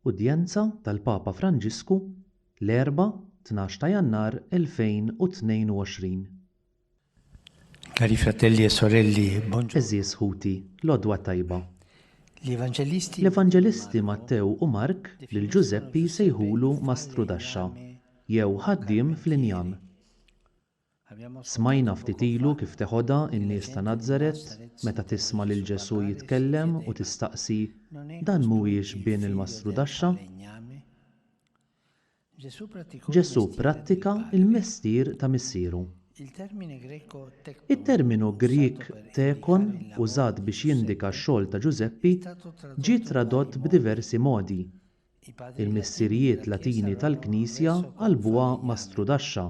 Udjenza tal-Papa Franġisku l-Erbgħa tnax ta' Jannar 2022. Cari fratelli e sorelli, buongiorno. Għeżież ħuti, l-għodwa tajba. L-Evanġelisti Mattew u Mark lil Ġużeppi jsejħulu Mastrudaxxa, jew ħaddiem fl-injam. Smajna ftit ilu kif teħodha n-nies ta' Nazaret meta tisma' lil Ġesù jitkellem u tistaqsi, Dan mhuwiex bin il-mastrudaxxa? Ġesù pprattika l-mestier ta' Missieru. It-terminu Grieg tekon użat biex jindika x-xogħol ta' Ġużeppi ġie tradott b'diversi modi, Il-missirijiet Latini tal-Knisja qalbuha ma' strudaxxa.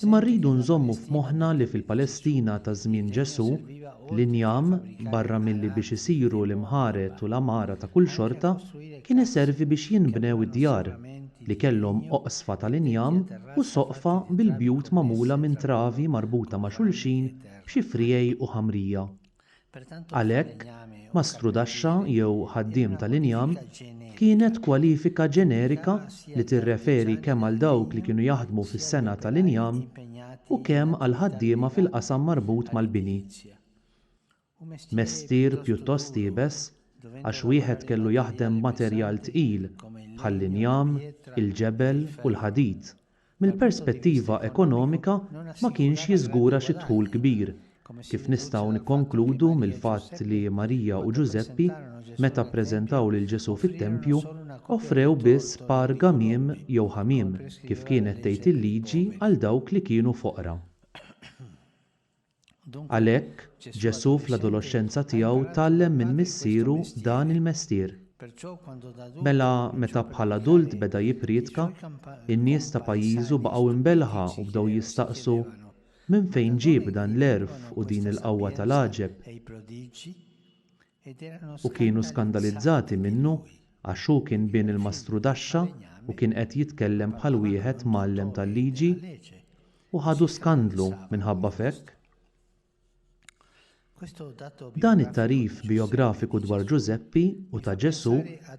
Imma rridu nżommu f'moħħna li fil-Palestina ta' żmien Ġesù, l-injam, barra milli biex isiru l-imħared u l-għamara ta' kull xorta, kien iservi biex jinbnew id-djar, li kellhom oqsfa tal-injam u soqfa bil-bjut magħmula minn travi marbuta ma' xulxin b'xi friegħi u ħamrija. Għalhekk, mastrudaxxa jew ħaddiem tal-injam kienet kwalifika ġenerika li tirreferi kemm għal dawk li kienu jaħdmu fis-sengħa tal-injam u kemm għal ħaddiema fil-qasam marbut mal-bini. Mestier pjuttost iebes għax wieħed kellu jaħdem b'materjal tqil bħall-injam, il-ġebel u l-ħadid. mill-perspettiva ekonomika ma kienx jiżgura xi dħul kbir, kif nistgħu nikkonkludu mill-fatt li Marija u Ġużeppi, meta ppreżentaw lil Ġesù fit-tempju, offrew biss par gamiem jew ħamiem, kif kienet tgħid il-Liġi għal dawk li kienu foqra. Għalhekk, Ġesù fl-adoloxxenza tiegħu tgħallem minn Missieru dan il-mestier. Mela, meta bħala adult beda jippriedka, in-nies ta' pajjiżu baqgħu imbelħa u bdew jistaqsu, Minn fejn ġieb dan l-għerf u din il-qawwa tal-għaġeb? u kienu skandalizzati minnu għax hu kien bin il-mastrudaxxa u kien qed jitkellem bħal wieħed mgħallem tal-liġi, u ħadu skandlu minħabba f'hekk. Dan it-tagħrif bijografiku dwar Ġużeppi u ta' Ġesù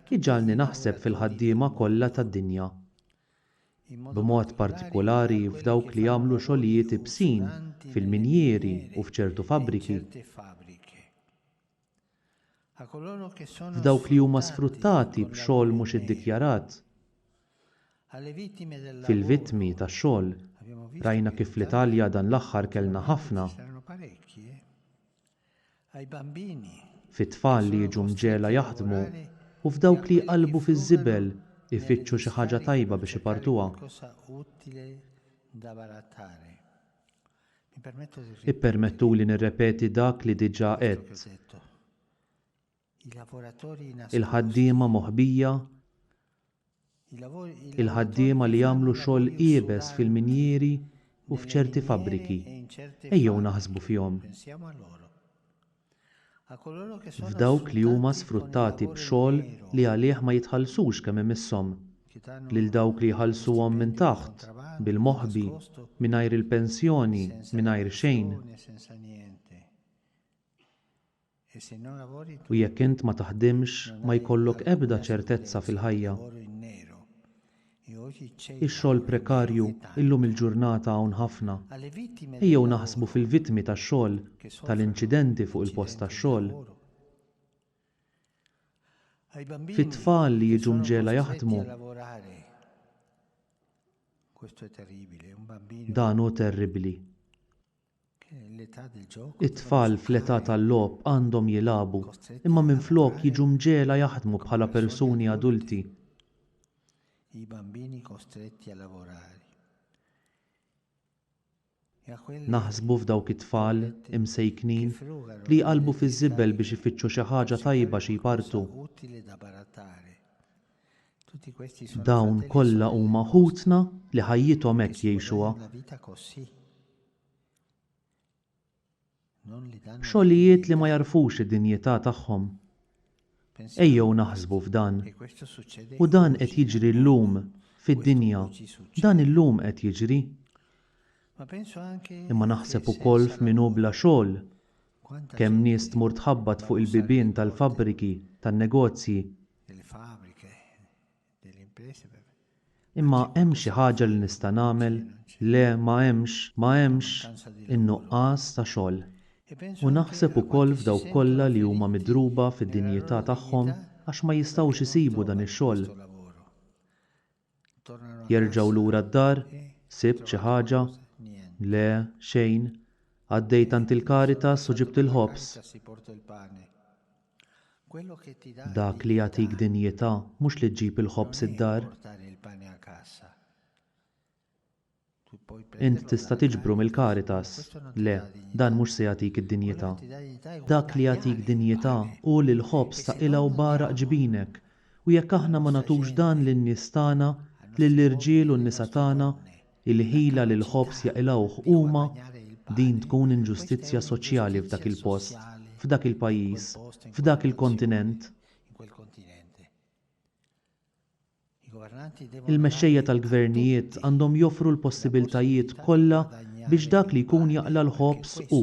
jġagħalni naħseb fil-ħaddiema kollha tad-dinja. b'mod partikolari f'dawk li jagħmlu xogħlijiet ibsin fil-minjieri u f'ċertu fabbriki, f'dawk li huma sfruttati b'xogħol mhux iddikjarat, fil-vittmi tax-xogħol, rajna kif fl-Italja dan l-aħħar kellna ħafna, fit-tfal li jiġu mġegħla jaħdmu u f'dawk li jqallbu fiż-żibel ifittxu xi ħaġa tajba biex ipartuha. Ippermettuli nirrepeti dak li diġà għedt. il-ħaddiema moħbija, il-ħaddiema li jagħmlu xogħol iebes fil-minjieri u f'ċerti fabbriki, ejjew naħsbu fihom. F'dawk li huma sfruttati b'xogħol li għalih ma jitħallsux kemm imisshom, lil dawk li jħallsuhom minn taħt, bil-moħbi, mingħajr il-pensjoni, mingħajr xejn. U jekk int ma taħdimx, ma jkollok ebda ċertezza fil-ħajja. Ix-xogħol prekarju illum il-ġurnata hawn ħafna. Ejjew naħsbu fil-vittmi tax-xogħol, tal-inċidenti fuq il-post tax-xogħol, fit-tfal li jiġu mġegħla jaħdmu. Dan hu terribbli. It-tfal fl-età tal-logħob għandhom jilagħbu, imma minflok jiġu mġegħla jaħdmu bħala persuni adulti. Naħsbu f'dawk it-tfal, imsejknin, li jqallbu fiż-żibel biex ifittxu xi ħaġa tajba xi jpartu. Dawn kollha huma ħutna li ħajjithom hekk jgħixuha. Xogħlijiet li ma jagħrfux id-dinjità tagħhom. Ejjew naħsbu f'dan. U dan qed jiġri llum fid-dinja, dan illum qed jiġri. Imma naħseb ukoll f'min hu bla xogħol. Kemm nies tmur tħabbat fuq il-bibien tal-fabbriki, tan-negozji, Imma hemm xi ħaġa li nista' nagħmel? Le, ma hemmx, ma hemmx in-nuqqas ta' xogħol. U naħseb ukoll f'dawk kollha li huma midruba fid-dinjità tagħhom għax ma jistgħux isibu dan ix-xogħol. Jerġgħu lura d-dar? Sibt xi ħaġa? Le, xejn. Għaddejt għand il-Caritas u ġibt il-ħobż. Dak li jagħtik dinjità mhux li ġġib il-ħobż id-dar. Int tista' tiġbru mill-Caritas? Le, dan mhux se jagħtik id-dinjità. Dak li jagħtik dinjità hu li l-ħobż ta' qilgħa u bgħaraq ġbinek, u jekk aħna ma nagħtux dan lin-nies tagħna, lill-irġiel u n-nisa tagħna, il-ħila li l-ħobż jaqilgħuh huma, din tkun inġustizzja soċjali f'dak il-post, f'dak il-pajjiż, f'dak il-kontinent. Il-mexxejja tal-gvernijiet għandhom joffru l-possibiltajiet kollha biex dak li jkun jaqla' l-ħobż u,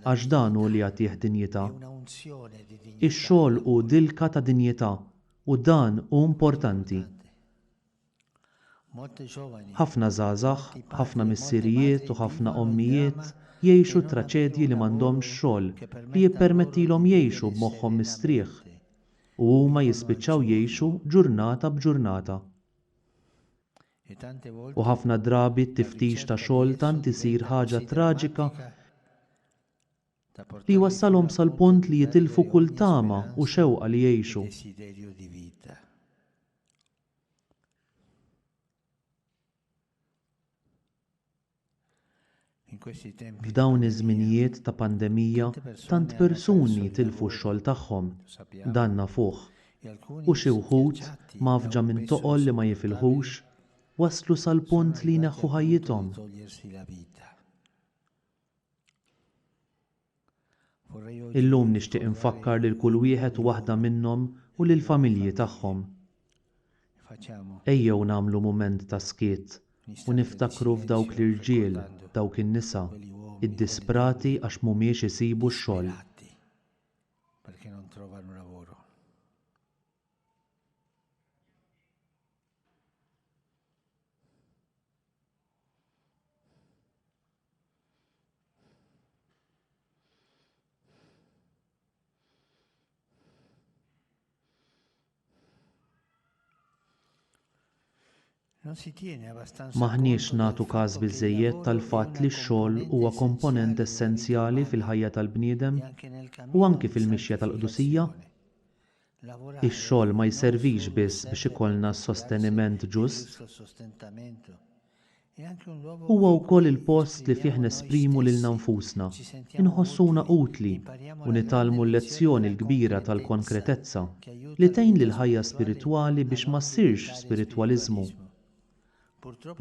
għax dan hu li jagħtih dinjità. Ix-xogħol hu dilka ta' dinjità u dan hu importanti. Ħafna żgħażagħ, ħafna missirijiet u ħafna ommijiet jgħixu traċedji li m'għandhomx xogħol li jippermettilhom jgħixu b'moħħhom mistrieħ, u huma jispiċċaw jgħixu ġurnata b'ġurnata. U ħafna drabi t-tiftix ta' xogħol tant isir ħaġa traġika li jwassalhom sal-punt li jitilfu kull tama u xewqa li jgħixu. F'dawn iż-żminijiet ta' pandemija tant persuni tilfu x-xogħol tagħhom, dan nafuh, u xi wħud, mgħaffġa minn toqol li ma jifilħux, waslu sal-punt li jneħħu ħajjithom. Illum nixtieq infakkar lil kull wieħed u waħda minnhom u lill-familji tagħhom. Ejjew nagħmlu mument ta' skiet u niftakru f'dawk l-irġiel, dawk in-nisa, iddisprati għax m'humiex isibu x-xogħol. M'aħniex nagħtu każ biżżejjed tal-fatt li x-xogħol huwa komponent essenzjali fil-ħajja tal-bniedem u anki fil-mixja tal-qdusija. Ix-xogħol ma jservix biss biex ikollna s-sosteniment ġust. Huwa wkoll il-post li fih nesprimu lilna nfusna, inħossuna utli u nitgħallmu l-lezzjoni l-kbira tal-konkretezza, li tgħin lill-ħajja spiritwali biex ma ssirx spiritwaliżmu.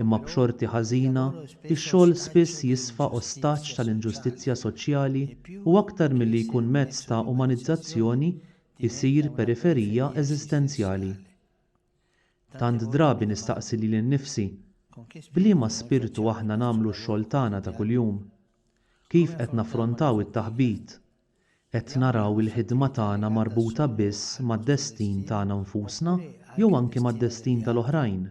Imma b'xorti ħażina, ix-xogħol spiss jisfa ostaġġ tal-inġustizzja soċjali u aktar milli jkun mezz ta' umanizzazzjoni, isir periferija eżistenzjali. Tant drabi nistaqsi lili nnifsi, B'liema spirtu aħna nagħmlu x-xogħol tagħna ta' kuljum? Kif qed naffrontaw it-taħbit, Qed naraw il-ħidma tagħna marbuta biss mad-destin tagħna nfusna jew anki mad-destin tal-oħrajn?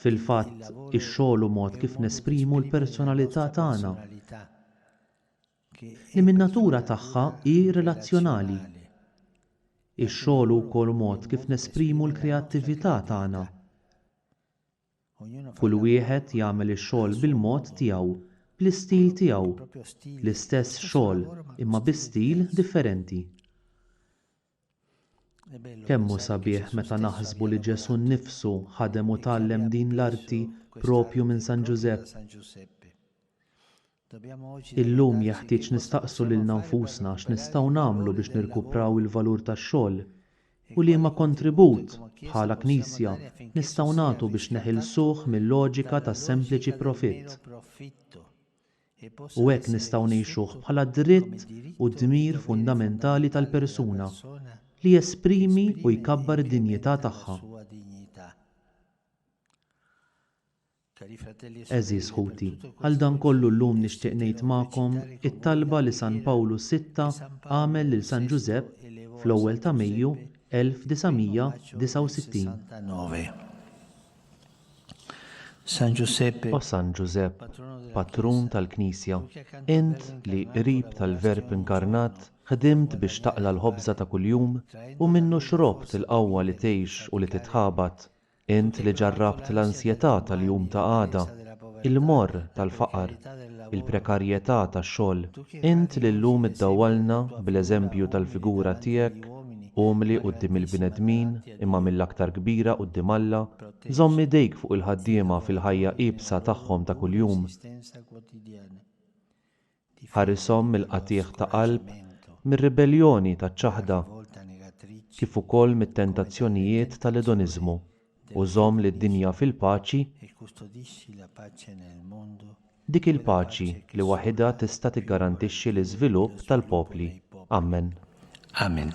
Fil-fatt, ix-xogħol hu mod kif nesprimu l-personalità tagħna, li min-natura tagħha hi relazzjonali. Ix-xogħol hu wkoll mod kif nesprimu l-kreattività tagħna. Kull wieħed jagħmel ix-xogħol bil-mod tiegħu, bl-istil tiegħu. L-istess xogħol, imma bi stil differenti. Kemm hu sabiħ meta naħsbu li Ġesù nnifsu ħadem u tgħallem din l-arti proprju minn San Ġużepp! Illum jeħtieġ nistaqsu lilna nfusna x'nistgħu nagħmlu biex nirkupraw il-valur tax-xogħol u liema kontribut, bħala Knisja, nistgħu nagħtu biex neħilsuh mil-loġika ta' sempliċi profitt u hekk nistgħu ngħixuh bħala dritt u dmir fundamentali tal-persuna li jesprimi u jkabbar id-dinjità tagħha. Għeżież ħuti, għal dan kollu llum nixtieq ngħid magħkom it-talba li San Pawlu Sitta għamel lil San Ġużepp fl-ewwel ta' Mejju 1969. O San Ġużepp, Patrun tal-Knisja, int li, qrib tal-Verb inkarnat, ħdimt biex taqla' l-ħobża ta' kuljum u minnu xrobt il-qawwa li tgħix u li titħabat, Int li ġarrabt l-ansjetà tal-jum ta' għada, il-morr tal-faqar, il-prekarjetà tax-xogħol, int li llum iddawwalna bl-eżempju tal-figura tiegħek, umli quddiem il-bnedmin imma mill-aktar kbira quddiem Alla, żomm idejk fuq il-ħaddiema fil-ħajja iebsa tagħhom ta' kuljum. Ħarishom mill-qatiegħ ta' qalb, mir-ribelljoni taċ-ċaħda, kif ukoll mit-tentazzjonijiet tal-edoniżmu, u żomm lid-dinja fil-paċi, dik il-paċi li waħidha tista' tiggarantixxi l-iżvilupp tal-popli. Ammen. Amen.